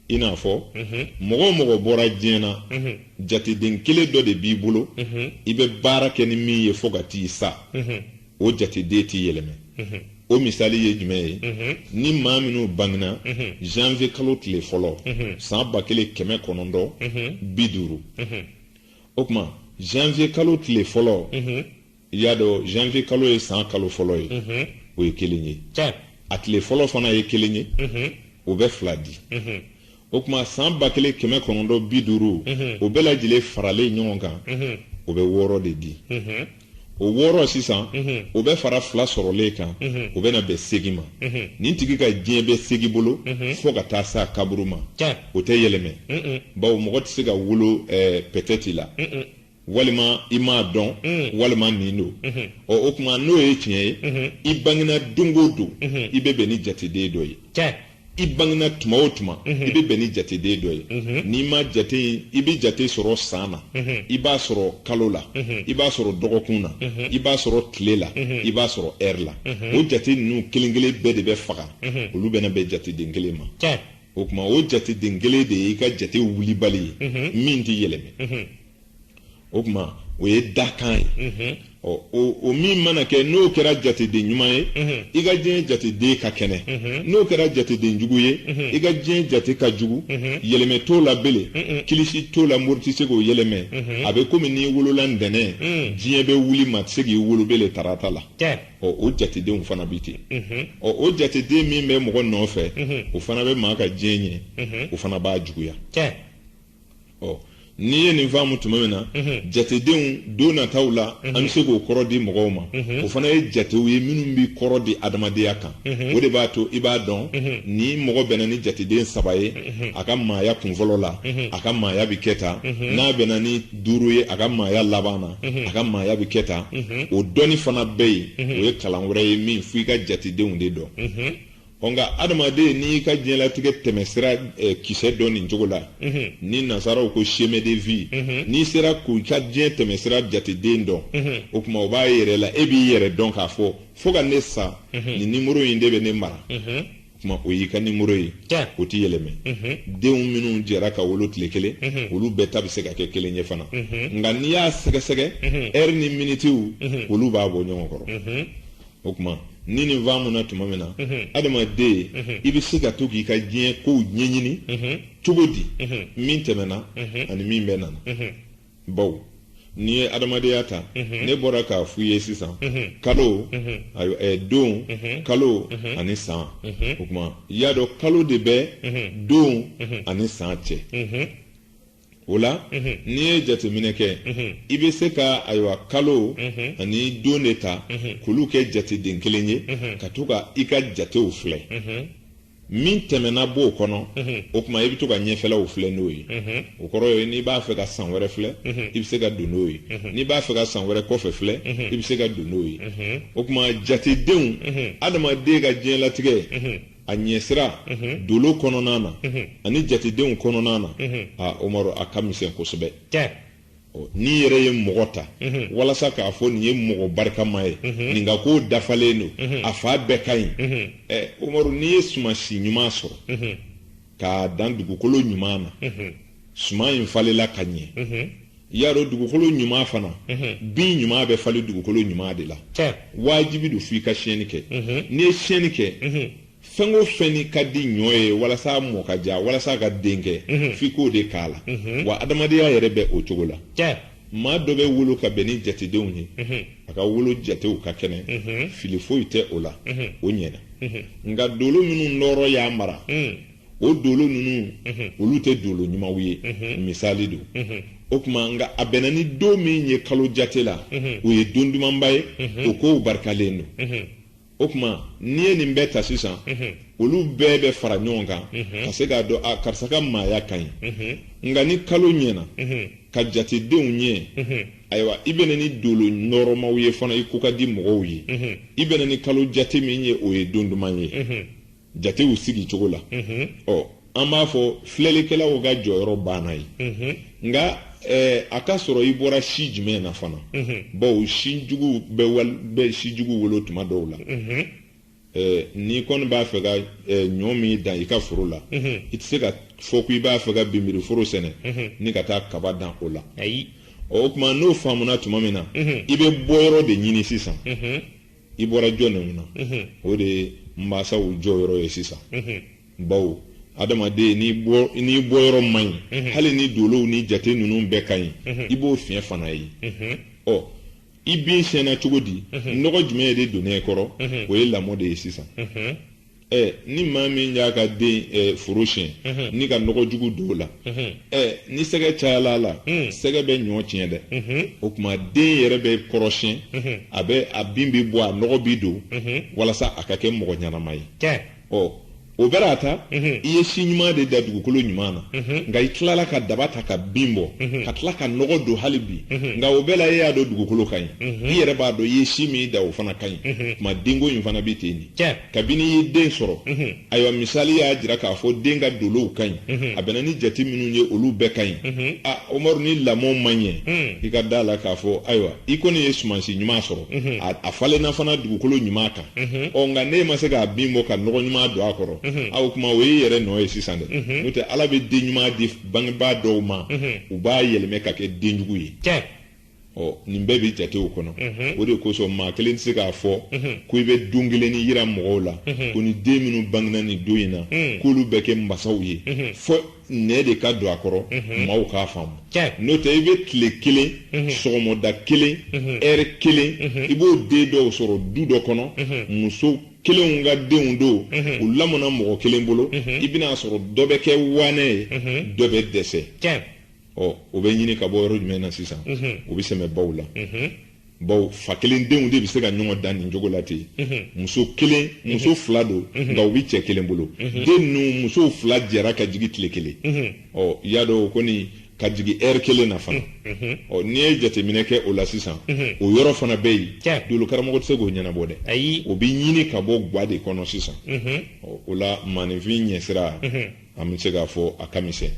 i n'a fɔ mɔgɔ o mɔgɔ bɔra diɲɛ na jateden kelen dɔ de b'i bolo i bɛ baara kɛ ni min ye fo ka t'i sa o jateden tɛ yɛlɛmɛ o misali ye jumɛn ye ni maa minnu bangena janvier kalo tile fɔlɔ san ba kelen kɛmɛ kɔnɔntɔn bi duuru o tuma janvier kalo tile fɔlɔ i y'a dɔn janvier kalo ye san kalo fɔlɔ ye o ye kelen ye a tile fɔlɔ fana ye kelen ye o bɛ fila di o tuma san ba kelen kɛmɛ kɔnɔntɔn bi duuru o bɛɛ lajɛlen faralen ɲɔgɔn kan o bɛ wɔɔrɔ de di o wɔɔrɔ sisan o bɛ fara fila sɔrɔlen kan o bɛna bɛn seegin ma nin tigi ka diɲɛ bɛ seegin bolo fo ka taa s'a kaburu ma o tɛ yɛlɛmɛ bawo mɔgɔ tɛ se ka wolo peut-être la walima i m'a dɔn mm. walima nin don mm-hmm. ɔ o tuma n'o ye tiɲɛ ye mm-hmm. i bangena don o don mm-hmm. i bɛ bɛn ni jateden dɔ ye i bangena tuma o tuma i bɛ bɛn ni jateden dɔ ye n'i ma jate i bɛ jate sɔrɔ san na i b'a sɔrɔ kalo la i b'a sɔrɔ dɔgɔkun na i b'a sɔrɔ tile la i b'a sɔrɔ heure la o jate ninnu kelen kelen bɛɛ de bɛ faga olu bɛna bɛn jateden kelen ma o tuma o jateden kelen de ye i ka jate wulibali ye min tɛ yɛlɛmɛ o tuma o ye dakan ye ɔ o min mana kɛ n'o kɛra jateden ɲuman ye i ka diɲɛ jateden ka kɛnɛ n'o kɛra jateden jugu ye i ka diɲɛ jate ka jugu yɛlɛmɛ t'o la bele kilisi t'o la mori tɛ se k'o yɛlɛmɛ a bɛ komi n'i wolola ntɛnɛn diɲɛ bɛ wuli maa tɛ se k'i wolo bele tarata la ɔ o jatedenw fana bɛ ten ɔ o jateden min bɛ mɔgɔ nɔfɛ o fana bɛ maa ka diɲɛ ɲɛ o fana b'a juguya ɔ n'i ye nin faamu tuma min na jatedenw don nataw la an bɛ se k'o kɔrɔ di mɔgɔw ma o fana ye jatew ye minnu bɛ kɔrɔ di adamadenya kan o de b'a to i b'a dɔn ni mɔgɔ bɛnna ni jateden saba ye a ka maaya kunfɔlɔ la a ka maaya bɛ kɛ tan n'a bɛnna ni duuru ye a ka maaya laban na a ka maaya bɛ kɛ tan o dɔnni fana bɛ yen o ye kalan wɛrɛ ye min fo i ka jatedenw de dɔn ɔ nka adamaden n'i ka diɲɛlatigɛ tɛmɛsira eh, kisɛ dɔn nin cogo la ni nasaraw ko chemin de vie n'i sera k'i ka diɲɛ tɛmɛsira jateden dɔn o tuma o b'a yɛrɛ la e b'i yɛrɛ dɔn k'a fɔ fo ka ne sa nin nimoro in de bɛ ne mara tuma o y'i ka nimoro ye o tɛ yɛlɛmɛ mhm. denw minnu jɛra ka wolo tile kelen mhm. olu bɛɛ ta bɛ se ka kɛ kelen ye fana mhm. nka n'i y'a sɛgɛsɛgɛ ɛri ni minitiw olu b'a bɔ ɲɔgɔn kɔrɔ o tuma ni nin faamuna tuma min na adamaden i bɛ se ka to k'i ka diɲɛ kow ɲɛɲini cogo di min tɛmɛna ani min bɛna na bawo n'i ye adamadenya ta mhm. ne bɔra k'a f'i ye sisan mhm. kalo mhm. don kalo ani san o tuma y'a dɔn kalo de bɛ don ani san cɛ o la n'i ye jateminɛ kɛ i bɛ se ka ayiwa kalo ani don de ta k'olu kɛ jateden kelen ye ka to ka i ka jatew filɛ min tɛmɛna b'o kɔnɔ o tuma i bɛ to ka ɲɛfɛlaw filɛ n'o ye o kɔrɔ ye n'i b'a fɛ ka san wɛrɛ filɛ i bɛ se ka don n'o ye n'i b'a fɛ ka san wɛrɛ kɔfɛ filɛ i bɛ se ka don n'o ye o tuma jatedenw adamaden ka diɲɛlatigɛ a ɲɛsira dolo kɔnɔna na ani jatedenw kɔnɔna na aa omaru a ka misɛn kosɛbɛ n'i yɛrɛ ye mɔgɔ ta walasa k'a fɔ nin ye mɔgɔ barikama ye nin ka ko dafalen don a fan bɛɛ ka ɲi omaru n'i ye sumansi ɲuman sɔrɔ k'a dan dugukolo ɲuman na suman in falela ka ɲɛ y'a dɔn dugukolo ɲuman fana bin ɲuman bɛ falen dugukolo ɲuman de la wajibi don f'i ka siyɛnni kɛ n'i ye siyɛnni kɛ fɛn o fɛn ni ka di ɲɔ ye walasa a mɔ ka ja walasa a ka den kɛ mhm. f'i k'o de k'a la mhm. wa adamadenya yɛrɛ bɛ o cogo la maa dɔ bɛ wolo ka bɛn ni jatedenw ye mhm. a ka wolo jatew ka kɛnɛ fili foyi tɛ o la o ɲɛna nka dolo minnu nɔɔrɔ y'a mara mm. o dolo ninnu olu tɛ dolo ɲumanw ye misali don o tuma nka a bɛnna ni don min ye kalo jate la o ye don dumanba ye o kow barikalen don o tuma n'i ye nin bɛɛ ta sisan olu bɛɛ bɛ fara ɲɔgɔn kan ka se k'a dɔn a karisa ka maaya ka ɲi nka ni kalo ɲɛna ka jatedenw ɲɛ ayiwa i bɛnna ni dolo nɔɔrɔmaw ye fana i ko ka di mɔgɔw ye i bɛnna ni kalo jate min ye o ye don duman ye jatew sigi cogo la mhm. ɔ an b'a fɔ filɛlikɛlaw ka jɔyɔrɔ banna yen mhm. nka eh, a ka sɔrɔ i bɔra si jumɛn na fana mhm. bawo si jugu bɛ si jugu wolo tuma dɔw la eh, n'i kɔni b'a fɛ ka eh, ɲɔ min dan i ka foro la i tɛ se ka fɔ ko i b'a fɛ ka binbiri foro sɛnɛ ni ka taa kaba dan o la o tuma n'o faamuna tuma min na i bɛ bɔyɔrɔ de ɲini sisan i bɔra jɔn ninnu na o de ye mansaw jɔyɔrɔ ye sisan bawo adamaden n'i bɔyɔrɔ man ɲi hali ni dolow ni jate ninnu bɛɛ ka ɲi i b'o fiɲɛ fana ye ɔ i bin siyɛnna cogo di nɔgɔ jumɛn de donna i kɔrɔ o ye lamɔ de ye sisan ɛ ni maa min y'a ka den ɛ foro siyɛn mhm. ni ka nɔgɔ jugu don o la mhm. ɛ ni sɛgɛ cayala a la mhm. sɛgɛ bɛ ɲɔ tiɲɛ dɛ o tuma den yɛrɛ bɛ kɔrɔsiyɛn a bɛ a bin bɛ bɔ a nɔgɔ bɛ don walasa a ka kɛ mɔgɔ ɲɛnama ye ɔ o bɛɛ n'a ta i ye si ɲuman de da dugukolo ɲuman na nka i tilala ka daba ta ka bin bɔ ka tila ka nɔgɔ don hali bi nka o bɛɛ la e y'a dɔn dugukolo ka ɲi i yɛrɛ b'a dɔn i ye si min da o fana ka ɲi tuma denko in fana bɛ ten de kabini i ye den sɔrɔ ayiwa misali y'a jira k'a fɔ den ka dolow ka ɲi a bɛnna ni jate minnu ye olu bɛɛ ka ɲi a umaru ni lamɔ ma ɲɛ i ka da a la k'a fɔ ayiwa i kɔni ye sumansi ɲuman sɔrɔ a falenna fana dugukolo ɲuman kan ɔ nka n'e ma se k'a bin bɔ ka nɔgɔ ɲuman don a kɔrɔ a o tuma o y'i yɛrɛ nɔ ye sisan dɛ n'o tɛ ala bɛ den ɲuman di bangebaa dɔw ma u b'a yɛlɛmɛ ka kɛ den jugu ye ɔ nin bɛɛ bɛ jatew kɔnɔ o de kosɔn maa kelen tɛ se k'a fɔ ko i bɛ don kelen nin yira mɔgɔw la ko ni den minnu bangena nin don in na k'olu bɛ kɛ masaw ye fo nɛn de ka don a kɔrɔ maaw k'a faamu n'o tɛ i bɛ tile kelen sɔgɔmɔda kelen ɛri kelen i b'o den dɔw sɔrɔ du dɔ kɔnɔ muso kelenw ka denw don u lamɔna mɔgɔ kelen bolo i bɛna sɔrɔ dɔ bɛ kɛ waanɛ ye dɔ bɛ dɛsɛ ɔ o bɛ ɲini ka bɔ yɔrɔ jumɛn na sisan o bɛ sɛmɛ baw la baw fa kelen denw de bɛ se ka ɲɔgɔn dan nin cogo la ten muso kelen muso fila don nka u bɛ cɛ kelen bolo den ninnu musow fila jɛra ka jigin tile kelen i y'a dɔn o kɔni ka jigin ɛri kelen na fana ɔ n'i ye jateminɛ kɛ o la sisan o yɔrɔ fana bɛ yen dolokaramɔgɔ tɛ se k'o ɲɛnabɔ dɛ o bɛ ɲini ka bɔ gwa de kɔnɔ sisan o la maninfin ɲɛsira an bɛ se k'a fɔ a ka misɛn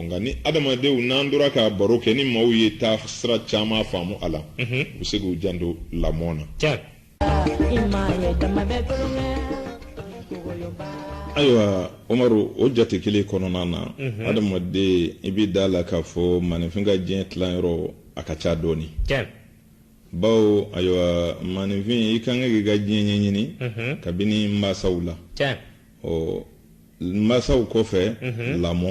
nka ni adamadenw n'an tora k'a baro kɛ ni maaw ye taa sira caman faamu a la u bɛ se k'u janto lamɔ na ayiwa umaru o jate kelen kɔnɔna na adamaden i bɛ da la k'a fɔ maninfin ka diɲɛ tilanyɔrɔ a ka ca dɔɔni bawo ayiwa maninfin i kan ka k'i ka diɲɛ ɲɛɲini kabini mansaw la ɔ masaw kɔfɛ mhm. lamɔ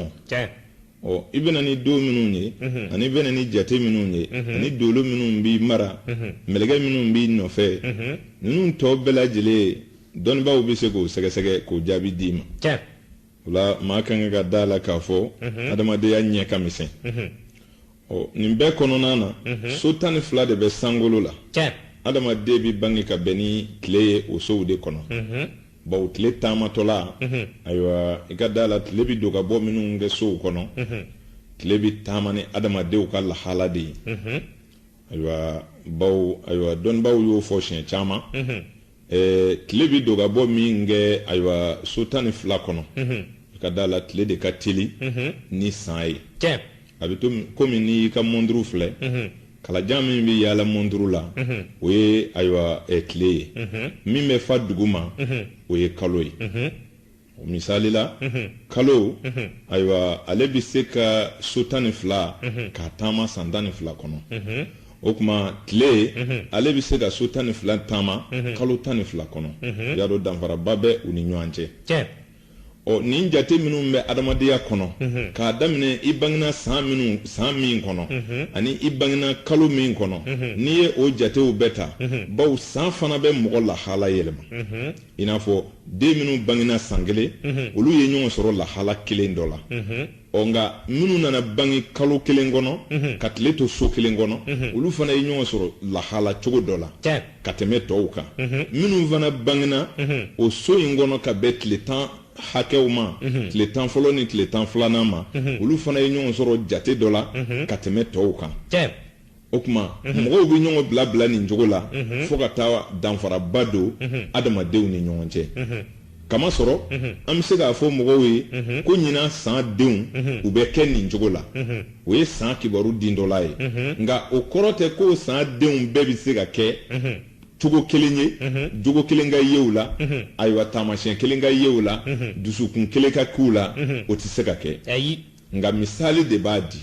ɔ i bɛna ni don minnu ye mhm. ani bɛna ni jate minnu ye mhm. ani dolo minnu b'i mara mɛlɛkɛ minnu b'i nɔfɛ ninnu tɔ bɛɛ lajɛlen dɔnnibaaw bɛ se k'o sɛgɛsɛgɛ k'o jaabi d'i ma o la maa ka kan ka da la k'a fɔ adamadenya ɲɛ ka misɛn ɔ nin bɛɛ kɔnɔna na so tan ni fila de bɛ sankolo la adamaden bɛ bange ka bɛn ni tile ye o sow de kɔnɔ baw tile taamatɔla ayiwa i ka da la tile bɛ don ka bɔ minnu kɛ sow kɔnɔ tile bɛ taama ni adamadenw ka lahala de ye ayiwa baw ayiwa dɔnnibaaw y'o fɔ siɲɛ caman tile bɛ don ka bɔ min kɛ ayiwa so tan ni fila kɔnɔ i ka da la tile de ka teli ni san ye a bɛ to kɔmi n'i y'i ka mɔnturu filɛ kalajan min bɛ yaala mɔnturu la o ye ayiwa tile ye min bɛ fa dugu ma o ye kalo ye o misali la kalo ayiwa ale bɛ se ka so tan ni fila k'a taama san tan ni fila kɔnɔ o tuma tile ale bɛ se ka so tan ni fila taama kalo tan ni fila kɔnɔ y'a dɔn danfaraba bɛ u ni ɲɔgɔn cɛ ɔ nin jate minnu bɛ adamadenya kɔnɔ k'a daminɛ i bangena san minnu san min kɔnɔ ani i bangena kalo min kɔnɔ n'i ye o jatew bɛɛ ta baw san fana bɛ mɔgɔ lahala yɛlɛma i n'a fɔ den minnu bangena san kelen olu ye ɲɔgɔn sɔrɔ lahala kelen dɔ la ɔ nka minnu nana bange kalo kelen kɔnɔ mhm. ka tile to so kelen kɔnɔ mhm. olu fana ye ɲɔgɔn sɔrɔ lahala cogo dɔ la ka tɛmɛ tɔw kan mhm. minnu fana bangena o so in kɔnɔ ka bɛn tile tan hakɛw ma tile tan fɔlɔ ni tile tan filanan ma olu fana ye ɲɔgɔn sɔrɔ jate dɔ la ka tɛmɛ tɔw kan o tuma mhm. mɔgɔw bɛ ɲɔgɔn bila bila nin cogo la mhm. fo ka taa danfaraba don mhm. adamadenw ni ɲɔgɔn cɛ k'a masɔrɔ an bɛ se k'a fɔ mɔgɔw ye ko ɲinan san denw u bɛ kɛ nin cogo la o ye san kibaru din dɔ la ye nka o kɔrɔ tɛ ko san denw bɛɛ bɛ se ka kɛ cogo kelen ye jogo kelen ka ye u la ayiwa taamasiyɛn kelen ka ye u la dusukun kelen ka k'u la o tɛ se ka kɛ nka misali de b'a di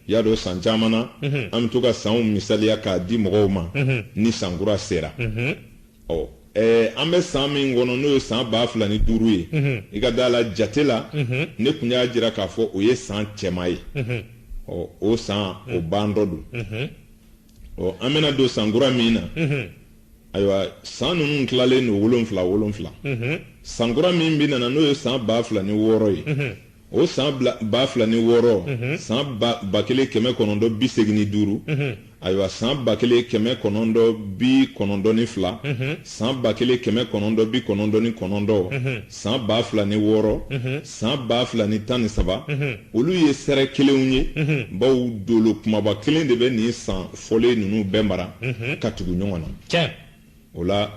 y'a dɔn san caman na an bɛ to ka sanw misaliya k'a di mɔgɔw ma ni sankura sera ɔ Eh, an bɛ san min kɔnɔ n'o ye san ba fila ni duuru ye mhm. i ka da a la jate la mhm. ne tun y'a jira k'a fɔ o ye san cɛman ye mhm. ɔ o san o bantɔ don ɔ an bɛna don san kura min na ayiwa san ninnu tilalen don wolonfila wolonfila san kura min bɛna na n'o ye san ba fila ni wɔɔrɔ ye o san ba fila ni wɔɔrɔ san ba kelen kɛmɛ kɔnɔntɔn bi segin ni duuru ayiwa san ba kelen kɛmɛ kɔnɔntɔn bi kɔnɔntɔn ni fila san ba kelen kɛmɛ kɔnɔntɔn bi kɔnɔntɔn ni kɔnɔntɔn san ba fila ni wɔɔrɔ san ba fila ni tan ni saba olu ye sɛrɛ kelenw ye bawo dolo kumaba kelen de bɛ nin san fɔlen ninnu bɛɛ mara ka tugu ɲɔgɔn na o la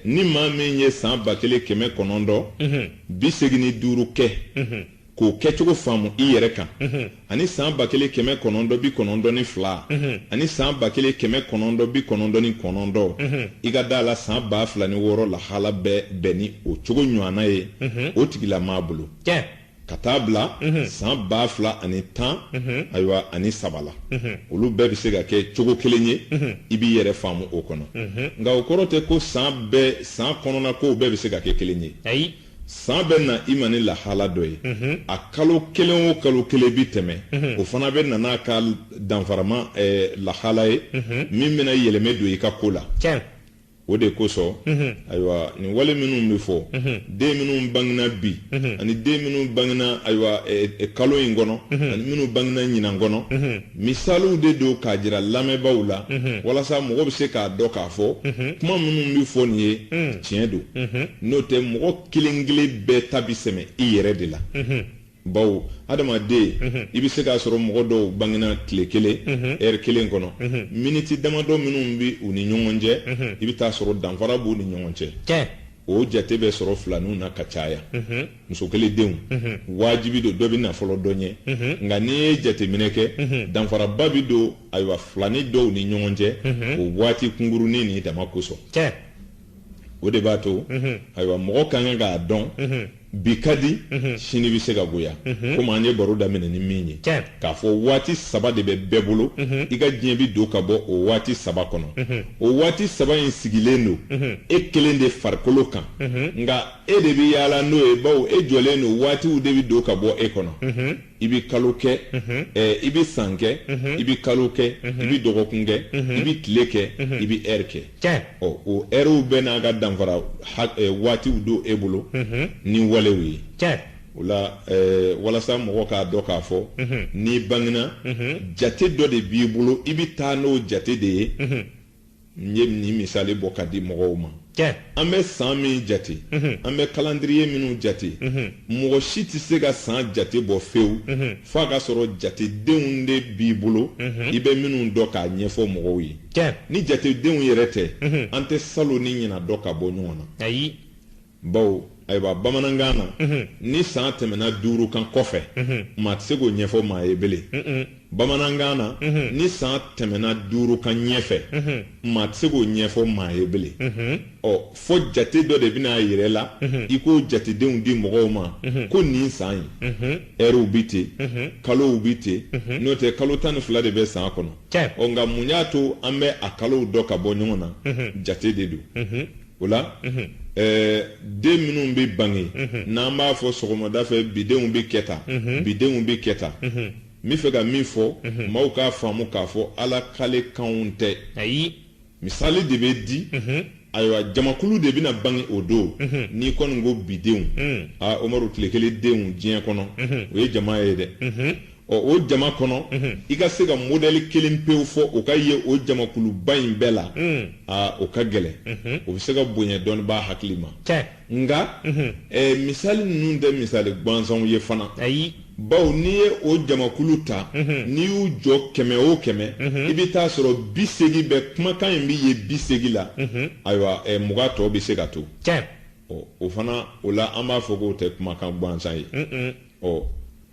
ni maa min ye san ba kelen kɛmɛ kɔnɔntɔn bi segin ni duuru kɛ k'o kɛcogo faamu i yɛrɛ kan ani san ba kelen kɛmɛ kɔnɔntɔn bi kɔnɔntɔn ni fila ani san ba kelen kɛmɛ kɔnɔntɔn bi kɔnɔntɔn ni kɔnɔntɔn i ka da a la san ba fila ni wɔɔrɔ lahala bɛɛ bɛn ni o cogo ɲɔgɔnna ye o tigilamaa bolo ka taa bila san ba fila ani tan ayiwa ani saba la olu bɛɛ bɛ se ka kɛ cogo kelen ye i b'i yɛrɛ faamu o kɔnɔ nka o kɔrɔ tɛ ko san bɛɛ san kɔnɔna ko bɛɛ bɛ se ka kɛ kelen ye ayi san bɛ na i ma ni lahala dɔ ye a kalo kelen o kalo kelen bɛ tɛmɛ o fana bɛ na n'a ka danfarama lahala ye min bɛna yɛlɛmɛ don i ka ko la o de kosɔn ayiwa nin wale minnu bɛ fɔ den minnu bangina bi ani den minnu bangina ayiwa kalo in kɔnɔ ani minnu bangina ɲinan kɔnɔ misaliw de don k'a jira lamɛnbaaw la walasa mɔgɔ bɛ se k'a dɔn k'a fɔ kuma minnu bɛ fɔ nin ye tiɲɛ don n'o tɛ mɔgɔ kelen kelen bɛɛ ta bi sɛmɛ i yɛrɛ de la bawo adamaden mhm. i bɛ se k'a sɔrɔ mɔgɔ dɔw bangena tile kelen mhm. ɛri kelen kɔnɔ mhm. miniti damadɔ minnu bɛ u ni ɲɔgɔn cɛ i bɛ t'a sɔrɔ danfara b'u ni ɲɔgɔn cɛ o jate bɛ sɔrɔ filaninw na ka caya muso kelen denw wajibi don dɔ bɛ na fɔlɔ dɔ ɲɛ nka n'i ye jateminɛ kɛ danfaraba bɛ don ayiwa filanin dɔw ni ɲɔgɔn cɛ o waati kunkurunnin nin dama kosɔn o de b'a to ayiwa mɔgɔ ka kan k'a dɔn bi ka di sini bɛ se ka goya komi an ye baro daminɛ ni min ye k'a fɔ waati saba de bɛ bɛɛ bolo i ka diɲɛ bɛ don ka bɔ o waati saba kɔnɔ o waati saba in sigilen don e kelen de farikolo kan nka e de bɛ yaala n'o ye bawo e jɔlen don waatiw de bɛ don ka bɔ e kɔnɔ i bɛ kalo kɛ i bɛ san kɛ i bɛ kalo kɛ i bɛ dɔgɔkun kɛ i bɛ tile kɛ i bɛ ɛri kɛ ɔ o ɛriw bɛɛ n'a ka danfara waatiw don e bolo ni walew ye o la walasa mɔgɔ k'a dɔn k'a fɔ n'i bangena jate dɔ de b'i bolo i bɛ taa n'o jate de ye n ye nin misali bɔ ka di mɔgɔw ma an bɛ san min jate mhm. an bɛ kalandiriye minnu jate mhm. mɔgɔ si tɛ se ka san jate bɔ fewu mhm. f'a ka sɔrɔ jatedenw de b'i bolo i bɛ minnu dɔn k'a ɲɛfɔ mɔgɔw ye ni jatedenw yɛrɛ tɛ an tɛ salon ni ɲinan dɔn ka bɔ ɲɔgɔn na bawo ayiwa bamanankan na ni san tɛmɛna duuru kan kɔfɛ maa tɛ se k'o ɲɛfɔ maa ye bele bamanankan na ni san tɛmɛna duuru kan ɲɛfɛ maa tɛ se k'o ɲɛfɔ maa ye bele ɔ fo jate dɔ de bɛna a yɛrɛ la i k'o jatedenw di mɔgɔw ma ko nin san ye ɛriw bi ten kalow bi ten n'o tɛ kalo tan ni fila de bɛ san kɔnɔ ɔ nka mun y'a to an bɛ a kalow dɔn ka bɔ ɲɔgɔn na jate de don o la den minnu bɛ bange n'an b'a fɔ sɔgɔmada fɛ bidenw bɛ kɛ tan bidenw bɛ kɛ tan n bɛ fɛ ka min fɔ maaw k'a faamu k'a fɔ ala kalekanw tɛ ayi misali de bɛ di ayiwa jamakulu de bɛna bange o don n'i kɔni ko bidenw aa umaru tile kelen denw diɲɛ kɔnɔ o ye jama ye dɛ Ɔ o jama kɔnɔ i ka se ka modɛli kelen pewu fɔ o ka ye o jamakuluba in bɛɛ la aa o ka gɛlɛn o bɛ se ka bonya dɔnnibaa hakili ma nka misali ninnu tɛ misali gansanw ye fana ayi baw n'i ye o jamakulu ta n'i y'u jɔ kɛmɛ o kɛmɛ i bɛ t'a sɔrɔ bi segin bɛ kumakan in bɛ ye bi segin la ayiwa mugan tɔ bɛ se ka to o fana o la an b'a fɔ k'o tɛ kumakan gansan ye ɔ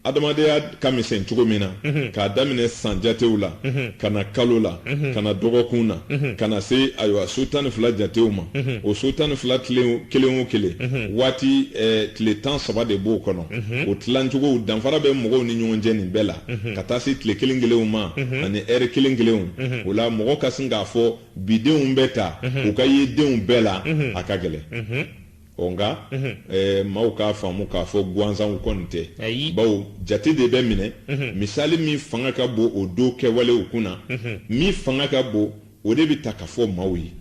adamadenya ka misɛn cogo min na mhm. k'a daminɛ san jatew la mhm. ka na kalo la mhm. ka na dɔgɔkun na ka na se ayiwa so tan ni fila jatew ma o so tan ni fila kelen o kelen waati eh, tile tan saba de b'o kɔnɔ o tilancogow danfara bɛ mɔgɔw ni ɲɔgɔn cɛ nin bɛɛ la ka taa se tile kelen kelenw ma ani ɛri kelen kelenw o la mɔgɔ ka sin k'a fɔ bidenw bɛ tan o ka ye denw bɛɛ la a ka gɛlɛn ɔ nka ɛɛ maaw k'a faamu k'a fɔ gansanw kɔni tɛ Ayi. bawo jate de bɛ minɛ misali min fanga ka bon o don kɛwalew kun na min fanga ka bon o de bɛ ta ka fɔ maaw ye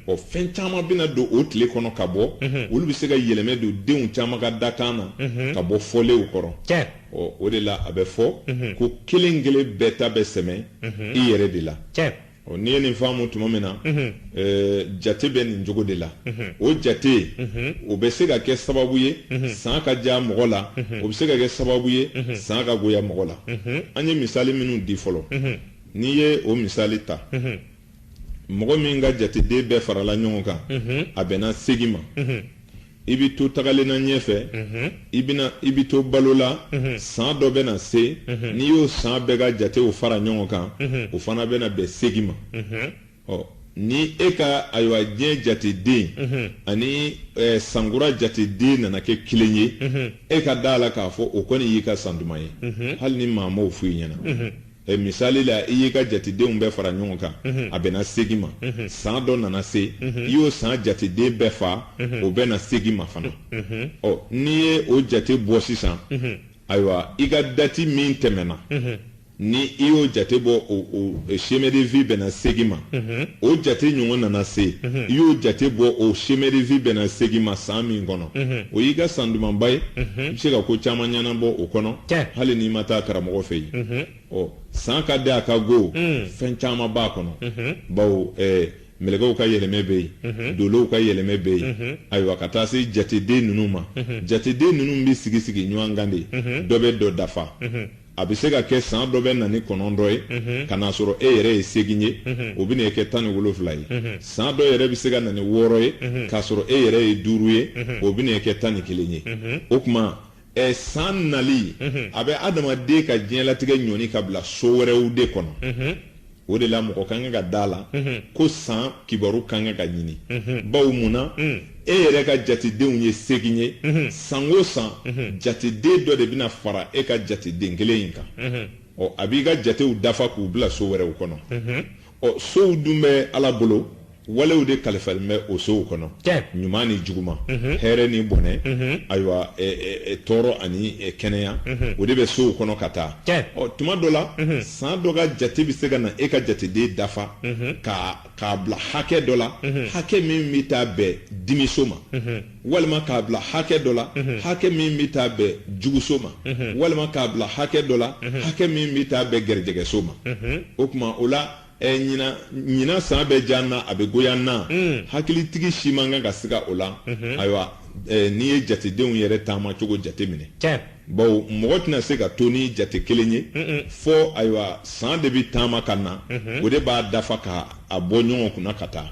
ɔ fɛn caman bɛna don o tile kɔnɔ ka bɔ olu bɛ se ka yɛlɛmɛ don denw caman ka dakan na ka bɔ fɔlenw kɔrɔ tiɲɛ ɔ o de la a bɛ fɔ ko kelen kelen bɛɛ ta bɛ sɛmɛ i yɛrɛ de la tiɲɛ Ɔ n'i ye nin faamu tuma min na jate bɛ nin cogo de la o jate o bɛ se ka kɛ sababu ye san ka diya mɔgɔ la o bɛ se ka kɛ sababu ye san ka goya mɔgɔ la an ye misali minnu di fɔlɔ n'i ye o misali ta mɔgɔ min ka jateden bɛɛ farala ɲɔgɔn kan a bɛnna segin ma i bɛ to tagalen na ɲɛfɛ mhm. i bɛna i bɛ to balo la mhm. san dɔ bɛna se mhm. n'i y'o san bɛɛ ka jatew fara ɲɔgɔn kan o fana bɛna bɛn segin ma ɔ ni e ka ayiwa diɲɛ jateden ani sankura jateden nana kɛ kelen ye e ka da a la k'a fɔ o kɔni y'i ka san duman ye hali ni maa m'o f'i ɲɛna Eh, misali la i y'i ka jatedenw bɛɛ fara ɲɔgɔn kan mhm. a bɛnna segin ma mhm. san dɔ nana se mhm. i y'o san jateden bɛɛ fa o bɛnna segin ma fana ɔ n'i ye o jate bɔ sisan ayiwa i ka dati min tɛmɛna ni i y'o jate bɔ o chemin de vie bɛnna segin ma o jate ɲɔgɔn nana se i y'o jate bɔ o chemin de vie bɛnna segin ma san min kɔnɔ o y'i ka san dumanba ye i bɛ se ka ko caman ɲɛnabɔ o kɔnɔ hali n'i ma taa karamɔgɔ fɛ yen ɔ san ka di a ka go fɛn caman b'a kɔnɔ bawo mɛlɛkɛw ka yɛlɛmɛ bɛ yen dolow ka yɛlɛmɛ bɛ yen ayiwa ka taa se jateden ninnu ma jateden ninnu bɛ sigi sigi ɲɔgɔn kan de dɔ bɛ dɔ dafa a bɛ se ka kɛ san dɔ bɛ na ni kɔnɔntɔn ye ka n'a sɔrɔ e yɛrɛ ye segin ye o bɛna e kɛ tan ni wolofila ye san dɔ yɛrɛ bɛ se ka na ni wɔɔrɔ ye k'a sɔrɔ e yɛrɛ ye duuru ye o bɛna e kɛ tan ni kelen ye o tuma ɛ san nali a bɛ adamaden ka diɲɛlatigɛ ɲɔni ka bila so wɛrɛw de kɔnɔ o de la mɔgɔ ka kan ka da a la ko san kibaru ka kan ka ɲini bawo mun na e yɛrɛ ka jatedenw ye segin ye san o san jateden dɔ de bɛna fara e ka jateden kelen in kan ɔ a b'i ka jatew dafa k'u bila so wɛrɛw kɔnɔ ɔ sow dun bɛ ala bolo walew de kalifalen bɛ o sow kɔnɔ ɲuman ni juguman hɛrɛ ni bɔnɛ ayiwa tɔɔrɔ ani kɛnɛya o de bɛ sow kɔnɔ ka taa ɔ tuma dɔ la san dɔ ka jate bɛ se ka na e ka jateden dafa k'a bila hakɛ dɔ la hakɛ min bɛ taa bɛn dimiso ma walima k'a bila hakɛ dɔ la hakɛ min bɛ taa bɛn juguso ma walima k'a bila hakɛ dɔ la hakɛ min bɛ taa bɛn garijɛgɛso ma o tuma o la Ɛ ɲinan ɲinan san bɛ diya na a bɛ goya na hakilitigi si man kan ka siga o la ayiwa n'i ye jatedenw yɛrɛ taama cogo jate minɛ bawo mɔgɔ tɛna se ka to ni jate kelen ye fɔ ayiwa san de bɛ taama ka na o de b'a dafa ka a bɔ ɲɔgɔn kunna ka taa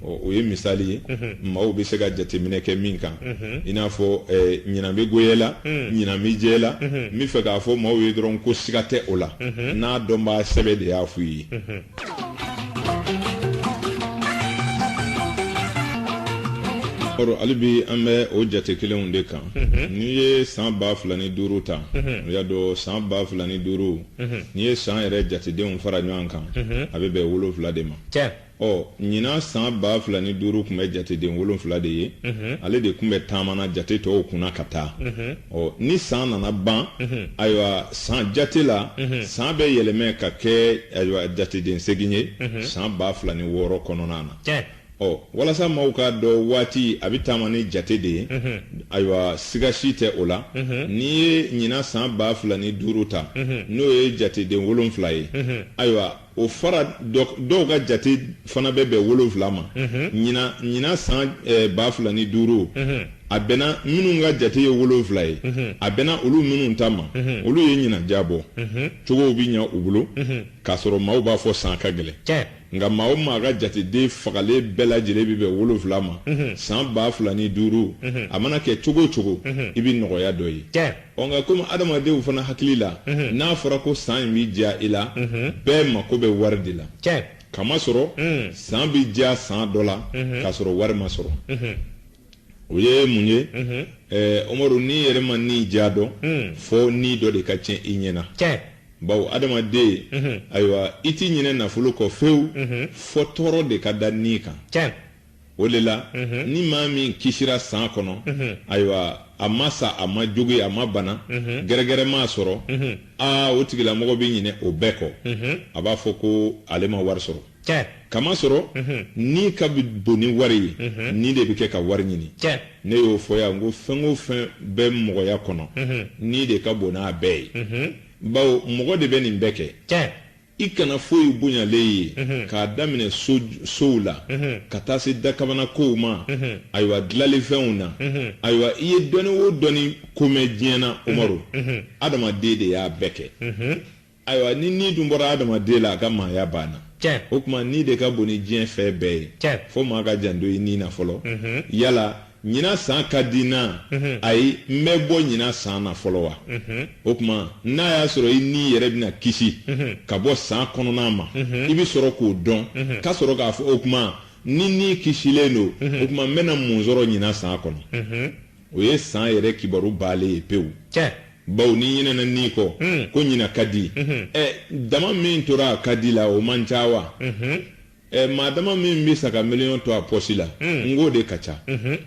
o ye misali ye maaw bɛ se ka jateminɛ kɛ min kan i n'a fɔ eh, ɲinan bɛ goya la ɲinan bɛ diya la n bɛ fɛ k'a fɔ maaw ye dɔrɔn ko siga tɛ o la n'a dɔnbaa sɛbɛ de y'a f'u ye kɔrɔ hali bi an bɛ o jate kelenw de kan mhm. n'i ye san ba fila ni duuru ta mhm. o y'a dɔn san ba fila ni duuru mhm. n'i ye san yɛrɛ jatedenw fara ɲɔgɔn kan a bɛ bɛn wolonwula de ma ɔ ɲinan san baa fila ni duuru tun bɛ jateden wolonfila de ye ale de tun bɛ taamana jate tɔw kunna ka taa ɔ ni san nana ban ayiwa san jate la san bɛ yɛlɛmɛ ka kɛ ayiwa jateden segin ye san baa fila ni wɔɔrɔ kɔnɔna na ɔ walasa maaw k'a dɔn waati a bɛ taama ni jate de ye ayiwa siga si tɛ o la n'i ye ɲinan san baa fila ni duuru ta n'o ye jateden wolonfila ye ayiwa o fara dɔw ka jate fana bɛ bɛn wolonwula ma ɲinan san eh, ba fila ni duuru a bɛnna minnu ka jate ye wolonwula ye a bɛnna olu minnu ta ma olu ye ɲinan diyabɔ cogow bɛ ɲa u bolo k'a sɔrɔ maaw b'a fɔ san ka gɛlɛn nka maa o maa ka jateden fagalen bɛɛ lajɛlen bɛ bɛn wolonwula ma san ba fila ni duuru a mana kɛ cogo o cogo i bɛ nɔgɔya dɔ ye ɔ nka komi adamadenw fana hakili la mhm. n'a fɔra ko san in bɛ diya i la mhm. bɛɛ mako bɛ wari de la kamasɔrɔ mhm. san bɛ diya san dɔ la k'a sɔrɔ wari ma sɔrɔ o ye mun ye ɛɛ umaru n'i yɛrɛ ma ni diya dɔn fɔ ni dɔ de ka tiɲɛ i ɲɛ na bawo adamaden ayiwa i t'i ɲinɛ nafolo kɔ fewu fɔ tɔɔrɔ de ka da ni kan o de la ni maa min kisira san kɔnɔ ayiwa a ma sa a ma jogin a ma bana gɛrɛgɛrɛ m'a sɔrɔ aa o tigilamɔgɔ bɛ ɲinɛ o bɛɛ kɔ a b'a fɔ ko ale ma wari sɔrɔ kamasɔrɔ ni ka bon ni wari ye ni de bɛ kɛ ka wari ɲini ne y'o fɔ yan ko fɛn o fɛn bɛ mɔgɔya kɔnɔ ni de ka bon n'a bɛɛ ye bawo mɔgɔ de bɛ nin bɛɛ kɛ i kana foyi bonyalen ye mhm. k'a daminɛ sow la mhm. ka taa se dakabana kow ma mhm. ayiwa dilalifɛnw na ayiwa i ye dɔnni o dɔnni ko mɛn diɲɛ na umaru adamaden de y'a bɛɛ kɛ ayiwa ni ni dun bɔra adamaden la a ka maaya banna o tuma ni de ka bon ni diɲɛ fɛn bɛɛ ye fo maa ka janto i ni na fɔlɔ yala ɲinan san ka di n na ayi n bɛ bɔ ɲinan san na fɔlɔ wa o tuma n'a y'a sɔrɔ i ni yɛrɛ bɛna kisi ka bɔ san kɔnɔna ma i bɛ sɔrɔ k'o dɔn ka sɔrɔ k'a fɔ o tuma ni ni kisilen don o tuma n bɛna mun sɔrɔ ɲinan san kɔnɔ o ye san yɛrɛ kibaru baalen ye pewu bawo n'i ɲinɛna ni kɔ ko ɲinan ka di ɛ dama min tora a ka di la o man ca wa ɛ maa dama min bɛ sa ka miliyɔn to a pɔsi la n k'o de ka ca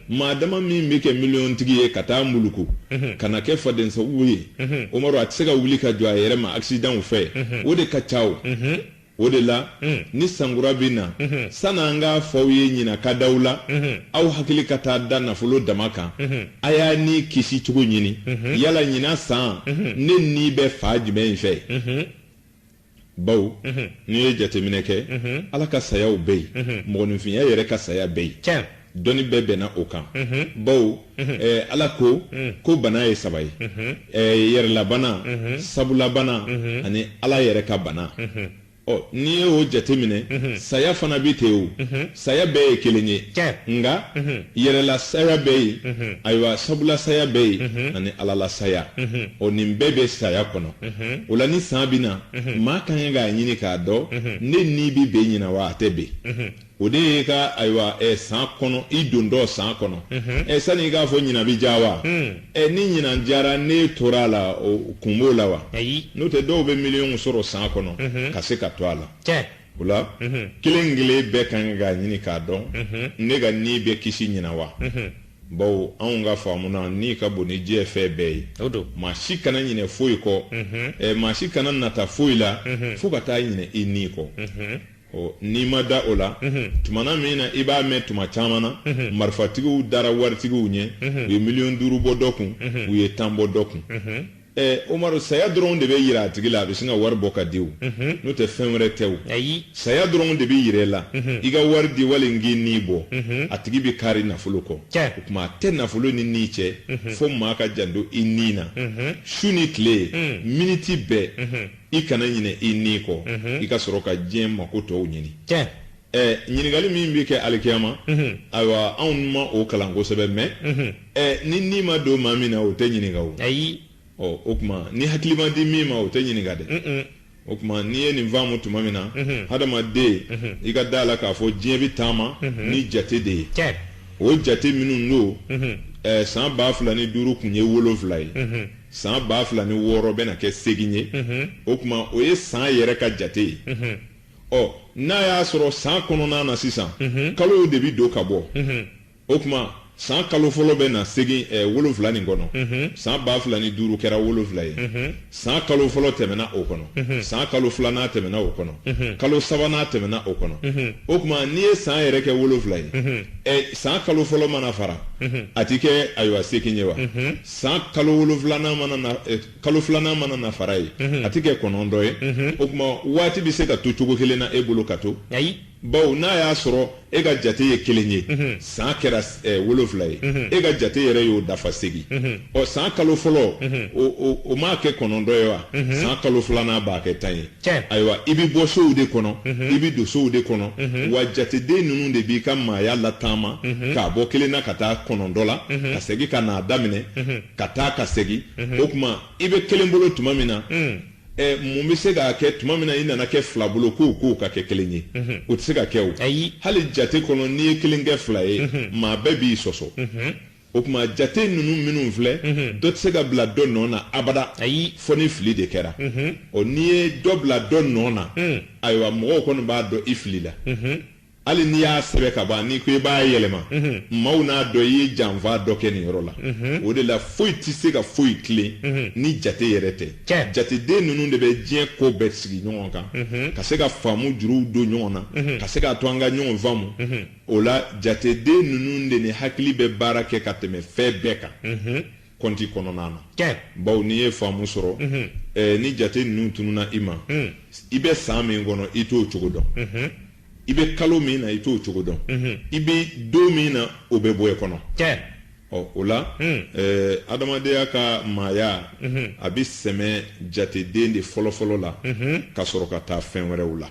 maa dama min bɛ kɛ miliyɔntigi ye ka taa muluku ka na kɛ fadensago ye umaru a tɛ se ka wuli ka jɔ a yɛrɛ ma akisidanw fɛ o de ka ca o o de la ni sankura bɛ na san'an k'a fɔ aw ye ɲina ka di aw la aw hakili ka taa da nafolo dama kan a y'a ni kisi cogo ɲini yala ɲina san ne ni bɛ fan jumɛn in fɛ baw n'i ye jateminɛ kɛ ala ka sayaw bɛ yen mɔgɔninfinya yɛrɛ ka saya bɛ yen dɔnni bɛɛ bɛnna o kan baw ala ko ko bana ye saba ye yɛrɛlabana sabulabana ani ala yɛrɛ ka bana ɔ n'i ye o jateminɛ saya fana bɛ ten o saya bɛɛ ye kelen ye nka mhm. yɛrɛla saya bɛ yen mhm. ayiwa sabula saya bɛ yen mhm. ani alala saya o nin bɛɛ bɛ saya kɔnɔ o la ni san bɛ na maa ka kan k'a ɲini k'a dɔn ne ni bi bɛn ɲina wa a tɛ bɛn o de ye ka ayiwa ɛ san kɔnɔ i dontɔ san kɔnɔ ɛ sani i k'a fɔ ɲina bɛ diya wa ɛ ni ɲina diyara ne tora a la o kun b'o la wa n'o tɛ dɔw bɛ miliyɔn sɔrɔ san kɔnɔ ka se ka to a la o la kelen kelen bɛɛ ka kan k'a ɲini k'a dɔn ne ka ni bɛ kisi ɲina wa baw anw ka faamu na ni ka bon ni diɲɛ fɛn bɛɛ ye maa si kana ɲinɛ foyi kɔ maa si kana nata foyi la fo ka taa ɲinɛ i ni kɔ n'i ma da o la tuma min na i b'a mɛn tuma caman na marifatigiw dara waritigiw ɲɛ u ye miliyɔn duuru bɔ dɔ kun u ye tan bɔ dɔ kun Eh, Umaru saya dɔrɔn de bɛ yira a tigi la a bɛ sin ka wari bɔ ka di o mhm. n'o tɛ fɛn wɛrɛ tɛ o saya dɔrɔn de bɛ yira i la mhm. i ka wari di wali n k'i ni bɔ mhm. a tigi bɛ kari nafolo kɔ o tuma a tɛ nafolo ni ni cɛ fo maa ka janto i ni na su ni tile mm. miniti bɛɛ mm-hmm. i kana ɲinɛ i ni kɔ mm-hmm. i ka sɔrɔ ka diɲɛ mako tɔw ɲini eh, ɲininkali min bɛ kɛ alikiyama ayiwa anw ma o kalan kosɛbɛ mɛ ɛ ni ni ma don maa min na o tɛ ɲininka o ayi ɔ o tuma ni hakili ma di min ma o tɛ ɲininka dɛ o tuma n'i ye nin faamu tuma min na hadamaden i ka da la k'a fɔ diɲɛ bɛ taama ni jate de ye cɛ o jate minnu don ɛ san ba fila ni duuru tun ye wolonfila ye san ba fila ni wɔɔrɔ bɛna kɛ segin ye o tuma o ye san yɛrɛ ka jate ye ɔ n'a y'a sɔrɔ san kɔnɔna na sisan kalow de bɛ don ka bɔ o tuma san kalo fɔlɔ bɛ na segin eh, wolonfila nin kɔnɔ mhm. san ba fila ni duuru kɛra wolonfila ye mhm. san kalo fɔlɔ tɛmɛna o kɔnɔ mhm. san kalo filanan tɛmɛna o kɔnɔ kalo sabanan tɛmɛna o kɔnɔ o tuma n'i ye san yɛrɛ kɛ wolonfila ye eh, san kalo fɔlɔ mana fara a ti kɛ ayiwa segin ye wa san kalo wolonfilanan mana na eh, kalo filanan mana na fara ye a ti kɛ kɔnɔntɔn ye o tuma waati bɛ se ka to cogo kelen na e bolo ka to bawo n'a y'a sɔrɔ e ka jate ye kelen ye mhm. san kɛra eh, wolonfila ye mhm. e ka jate yɛrɛ y'o dafa segin mhm. ɔ san kalo fɔlɔ o m'a kɛ kɔnɔntɔn ye wa san kalo filanan b'a kɛ tan ye ayiwa i bɛ bɔ sow de kɔnɔ i bɛ don sow de kɔnɔ wa jateden ninnu de b'i ka maaya lataama k'a bɔ kelen na ka taa kɔnɔntɔn la ka segin ka n'a daminɛ ka taa ka segin o tuma i bɛ kelen bolo tuma min na ɛ mun bɛ se k'a kɛ tuma min na i nana kɛ fila bolo k'o k'o ka kɛ kelen ye mhm. o tɛ se ka kɛ o ayi hali jate kɔnɔ n'i ye kelen kɛ fila ye mhm. maa bɛɛ b'i sɔsɔ mhm. o tuma jate ninnu minnu filɛ dɔ tɛ se ka bila dɔ nɔ na abada ayi fo ni fili de kɛra ɔ n'i ye dɔ bila dɔ nɔ na mm. ayiwa mɔgɔw kɔni b'a dɔn i filila hali n'i y'a sɛbɛn ka ban n'i ko i b'a yɛlɛma maaw n'a dɔn i ye janfa dɔ kɛ nin yɔrɔ la o de la foyi tɛ se ka foyi tilen ni jate yɛrɛ tɛ Tiɲɛ. jateden ninnu de bɛ diɲɛ ko bɛɛ sigi ɲɔgɔn kan ka se ka faamu juruw don ɲɔgɔn na ka se k'a to an ka ɲɔgɔn faamu o la jateden ninnu de ni hakili bɛ baara kɛ ka tɛmɛ fɛn bɛɛ kan kɔnti kɔnɔna na bawo n'i ye faamu sɔrɔ ni jate ninnu tununna i ma i bɛ san min kɔnɔ i t'o cogo dɔn i bɛ kalo min na i t'o cogo dɔn i bɛ don min na o bɛ bɔ e kɔnɔ ɔ o la adamadenya ka maaya a bɛ sɛmɛ jateden de fɔlɔfɔlɔ la ka sɔrɔ ka taa fɛn wɛrɛw la